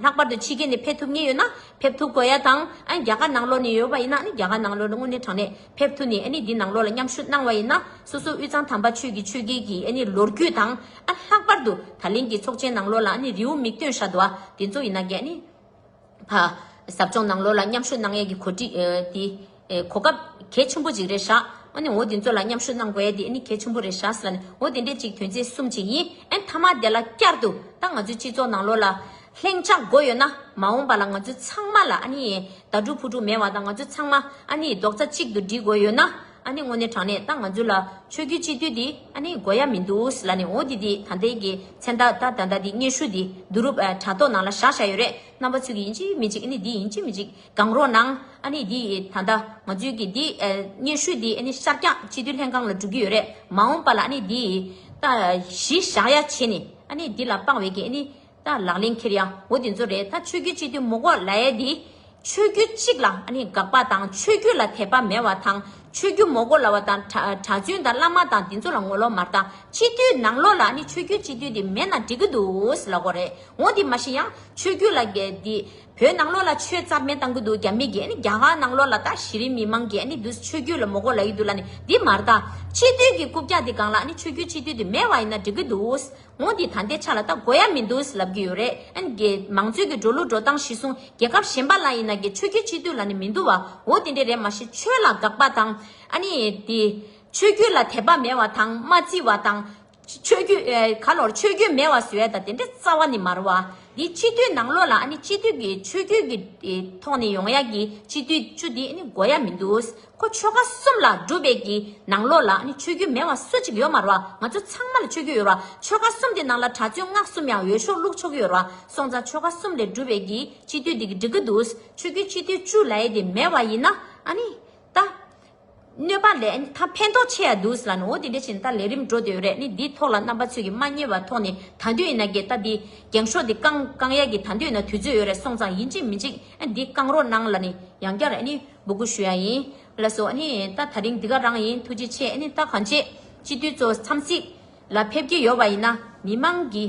ལྷག་པར་དུ་ཕྱི་རྒྱལ་ནས་ཕེབས་ཐུབ་ངེས་ཡོད་ན་ཕེབས་ཐུབ་དགོས་ཡ་དང། རྒྱ་གར་ནང་ལོགས་ནས་ཡོད་པ་ཡིན་ན་རྒྱ་གར་ནང་ལོགས་ལ་དངོས་གནས་དྲང་གནས་ཕེབས་ཐུབ་ནས་འདི་ནང་ལོགས་ལ་མཉམ་ཞུགས་གནང་བ་ཡིན་ན་སོ་སོ་དབུས་གཙང་དམ་པ་ཆོས་ཀྱི་ཆོས་རྒྱལ་གྱི་ལོ་རྒྱུས་དང། ལྷག་པར་དུ་ད་ལན་གྱི་ཚོགས་ཆེན་ནང་ལོགས་ལ་རེའུ་མིག་སྟོན་བཞག་འདུག་བ་དེ་ཚོ་ཡིན་ན། པ། ཟབ་སྦྱོང་ནང་ལོ་ལ་མཉམ་ཞུགས་གནང་ཡས་ཀྱི་གོ་སྐབས་གལ་ཆེན་པོ་གཅིག་རེད་ཤག་འོ་དེ་ཚོ་ལ་མཉམ་ཞུགས་གནང་དགོས་ཡས་དེ་གལ་ཆེན་པོ་རེད་ཤག་འོ་དེ་འདྲས་གཅིག་དོན་ཚན་གསུམ་གཅིག་ཡིན་ཨེ་མཐའ་མ་དེ་ལ་བསྐྱར་དུ་ད་ང་ཚོའི་སྤྱི་ཚོགས་ནང་ལོ་ལ་ལྷིང་འཇགས་དགོས་ཡོད་ན་མ་འོངས་པ་ལ་ང་ཚོ་ཚང་མ་ལ་ཨ་ནི་ད་དྲུག་ཕུ་དྲུག་མེད་བ་དང་ང་ཚོ་ཚང་མ་ཨ་ནི་རྡོག་རྩ་གཅིག་ཏུ་སྒྲིལ་དགོས་ཡོད་ན། ཨ་ནི་དངོས་གནས་དྲང་གནས་ཏང་ང་ཚོའི་ལ། ཆོས་རྒྱུད་སྤྱི་འཐུས་འདི་ཨ་ནི་མགོ་ཡ་མི་འདུག་ཟི་ལ་ནི་འོ་འདི་འདི་ད་ལྟའི་གི་མཚན་ད་ད་ད་ད་འདི་སྙན་ཧྲུའུ་འདི་བསྡུ་རུབ་ཨ་དྲ་ཐོག་ནང་ལ་བཞག་བཞག་ཡོད་རེད་རྣམ་པ་ཚུལ་གྱི་ཡིན་ཅིག་མི་ཅིག་ཨ་ནི་འདི་ཡིན་ཅིག་མི་ཅིག་གང་རོགས་གནང་ཨ་ནི་འདི་ད་ད་ང་ཚོའི་གི་འདི་སྙན་ཧྲུའུ་འདི་ཨ་ནི་ཤར་སྐྱ་སྤྱི་འཐུས་ལྷན་ཁང་ལ་འགྲོ་གི་ཡོད་རེད་མ་འོངས་པ་ལ་ཨ་ནི་འདི་ད་གཞི་བཞག་ཡ་བྱེད་ནི་ཨ་ནི་འདི་ལ་དཔང་བའི་གི་ཨ་ནི། ད་ལག་ལེན་འཁྱེར་ཡག་བོ་དེ་ཚོ་རེད་ད་ཆོས་རྒྱུད་གཅིག་དུ་མུག་བོག་ལ་ཡས་དེ། ཆོས་རྒྱུད་གཅིག་ལ་ཨ་ནི་དགག་པ་དང་ཆོས་རྒྱུད་ལ་དད་པ་མེད་བ་དང་ཆོས་རྒྱུད་མོག་བོ་ལ་བ་དང་གྲ་གྲ་བཙུན་དང་བླ་མ་དང་དེ་ཚོ་ལ་ངོ་ལོག་མ་རྟ་སྤྱི་འཐུས་ནང་ལོག་ལ་ཨ་ནི་ཆོས་རྒྱུད་སྤྱི་འཐུས་དེ་མེད་ན་འགྲིག་གི་འདུག་ལ་གོ་རེད་འོ་དེ་མ་ཤེས་ཡང་ཆོས་རྒྱུད་ལ་དགེ་དེ་བོད་ནང་ལོག་ལ་ཆོས་རྩ་མེད་བཏང་གི་འདུག་རྒྱ་མི་གི་ཨ་ནི་རྒྱ་གར་ནང་ལོག་ལ་ད་གཞི་རིམ་མི་མང་གི་ཨ་ནི་དུས་ཆོས་རྒྱུད་ལ་མོག་བོག་ལ་ཡི་འདུག་ལ་ནི་དེ་མ་རྟ་སྤྱི་འཐུས་གི་རྐུབ་བཀྱག་དེ་སྒང་ལ་ཨ་ནི་ཆོས་རྒྱུད་སྤྱི་འཐུས་དེ་མེད་བ་ཡིན་ན་འགྲིག་གི་འདུག་ངོ་འདི་ད་ལྟའི་ཆ་ལ་ད་གོ་ཡ་མི་འདུག་ལབ་ཀྱི་ཡོད་རེད་ཨ་གེ། མང་གཙོའི་གི་འགྲོ་ལུགས་འགྲོ་སྟངས་གཞི་བཟུང་རྒྱལ་ཁབ་གཞན་པ་ལ་ཡིན་ན་གི་ཆོས་རྒྱུད་སྤྱི་འཐུས་ལ་ནི་མི་འདུག་བའོ་དེ་འདྲས་རེད་མ་ཤེས་ཆོས་ལ་དགག་པ་དང། ཨ་ནི། དེ། ཆོས་རྒྱུད་ལ་དད་པ་མེད་བ་དང་མ་བརྩི་བ་དང། ཆོས་རྒྱུད། ག་ལོར་ཆོས་རྒྱུད་མེད་བ་ཟེར་བས་ད་དེ་འདྲས་རྩ་བ་ནི་མར་བ། དེ་སྤྱི་འཐུས་ནང་ལོགས་ལ་ཨ་ནི་སྤྱི་འཐུས་གི་ཆོས་རྒྱུད་གི་ཐོག་ནས་ཡོང་ཡ་གི་སྤྱི་འཐུས་བཅུ་དེ་ཨ་ནི་གོ་ཡ་མི་འདུག་ཁོ་ཆོལ་ཁ་གསུམ་ལ་སྒྲུབ་པའི་གི་ནང་ལོགས་ལ་ནི་ཆོས་རྒྱུད་མེད་བ་སུ་གཅིག་ཡོད་མ་རུང་བ་ང་ཚོ་ཚང་མ་ལ་ཆོས་རྒྱུད་ཡོད་རུང་བ་ཆོལ་ཁ་གསུམ་དེ་ནང་ལ་གྲྭ་བཙུན་སྔགས་གསུམ་ཡང་ཡོད་ཤོག་ལུགས་ཆོག་གི་ཡོད་རུང་བ་སོང་ཙང་ཆོལ་ཁ་གསུམ་ལས་སྒྲུབ་པའི་གི་སྤྱི་འཐུས་དེ་གི་འགྲིག་གི་འདུག་ཆོས་རྒྱུད་སྤྱི་འཐུས་བཅུ་ལ་ཡེ་དེ་མེད་བ་ཡིན་ན་ཨ་ནི་ད། གནོད་པ་ལས་ཨ་ཐང་ཕན་ཐོག་ཆེ་ཡ་འདུག་ལ་ནི་འོ་དེ་འདྲ་བྱས་ནས་ད་ལས་རིམ་འགྲོ་དེ་ཡོད་རེད་ནི་དེའི་ཐོག་ལ་རྣམ་པ་ཚོས་གི་མ་བརྙེད་པ་ཐོག་ནི་ད་འདོད་ཡིན་ན་གི་ད་དེ་འགྱངས་ཤོག་དེ་བསྐང་བསྐང་ཡ་གི་ད་འདོད་ཡིན་ན་དུས་ཚོད་ཡོད་རེད་སོང་ཙང་ཡིན་གཅིག་མིན་གཅིག་ཨ་དེ་བསྐང་རོགས་གནང་ལ་ནི་ཡང་བསྐྱར་ཨ་ནི། འབུ་རྒོད་ཞུ་ཡ་ཡིན། ལ་སོ་ཨ་ནི་ད་ད་རིང་འདི་ག་རང་ཡིན་ཐུགས་རྗེ་ཆེ་ཨ་ནི་ད་གང་བྱེད་སྤྱི་འཐུས་ཚོ་འཚམས་གཟིགས་ལ་ཕེབས་ཀྱི་ཡོད་པ་ཡིན་ན་མི་མང་གི་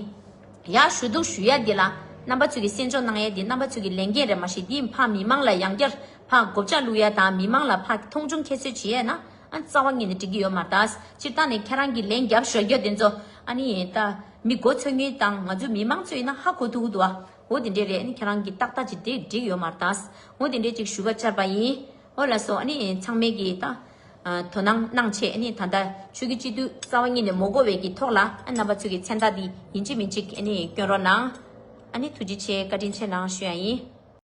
ཡ་ཞུ་འདུག་ཞུ་ཡ་འདི་ལ་རྣམ་པ་ཚོས་ཀྱི་གསན་འཇོག་གནང་ཡ་འདི་རྣམ་པ་ཚོས་ཀྱི་ལས་འགན་རེད་མ་ཞེ་འདི་ཕག་མི་མང་ལ་ཡང་བསྐྱར་ཕག་མགོ་བཅག་བླུག་ཡ་དང་མི་མང་ལ་ཕག་གི་མཐོང་ཆུང་ཁྱད་གསོད་བྱེད་ཡ་ན་ཨ་རྩ་བ་ངེས་ནས་འགྲིག་གི་ཡོད་མ་རེད་ད་སྤྱིར་བཏང་ནས་ཁྱེད་རང་གི་ལན་རྒྱབ་ཞོར་རྒྱ་དེ་ཚོ་ཨ་ནི་ད་མི་མགོ་ཚོས་ངེས་དང་ང་ཚོ་མི་མང་ཚོས་ཡིན་ན་ཧ་གོ་ཐུག་གི་འདུག་ཨ། འོ་དེ་འདྲའི་རེད་ཨ་ཁྱེད་རང་གི་ཏག་ཏག་ཅིག་དེ་འགྲིག་ཡོད་མར་ཏཱས་འོ་དེ་འདྲའི་ཅིག་ཞུ་བ་བཅར་བ་ཡིན། འོ་ལ་སོ་ཨ་ནི་ཚང་མས་གི་ད། དོ་སྣང་གནང་ཆེད་ཨ་ནི་ད་ལྟ་ཆོས་ཀྱི་སྤྱི་འཐུས་རྩ་བ་ཉིད་ནས་མོ་མགོ་བས་ཀྱི་ཐོག་ལ་ཨ་རྣམ་པ་ཚོས་ཀྱི་མཚན་རྟགས་འདི་ཡིན་གཅིག་མིན་གཅིག་ཨ་ནི་བསྐྱོན་རོགས་གནང། ཨ་ནི་ཐུགས་རྗེ་ཆེ་བཀའ་དྲིན་ཆེ་གནང་ཞུ་ཡ་ཡིན།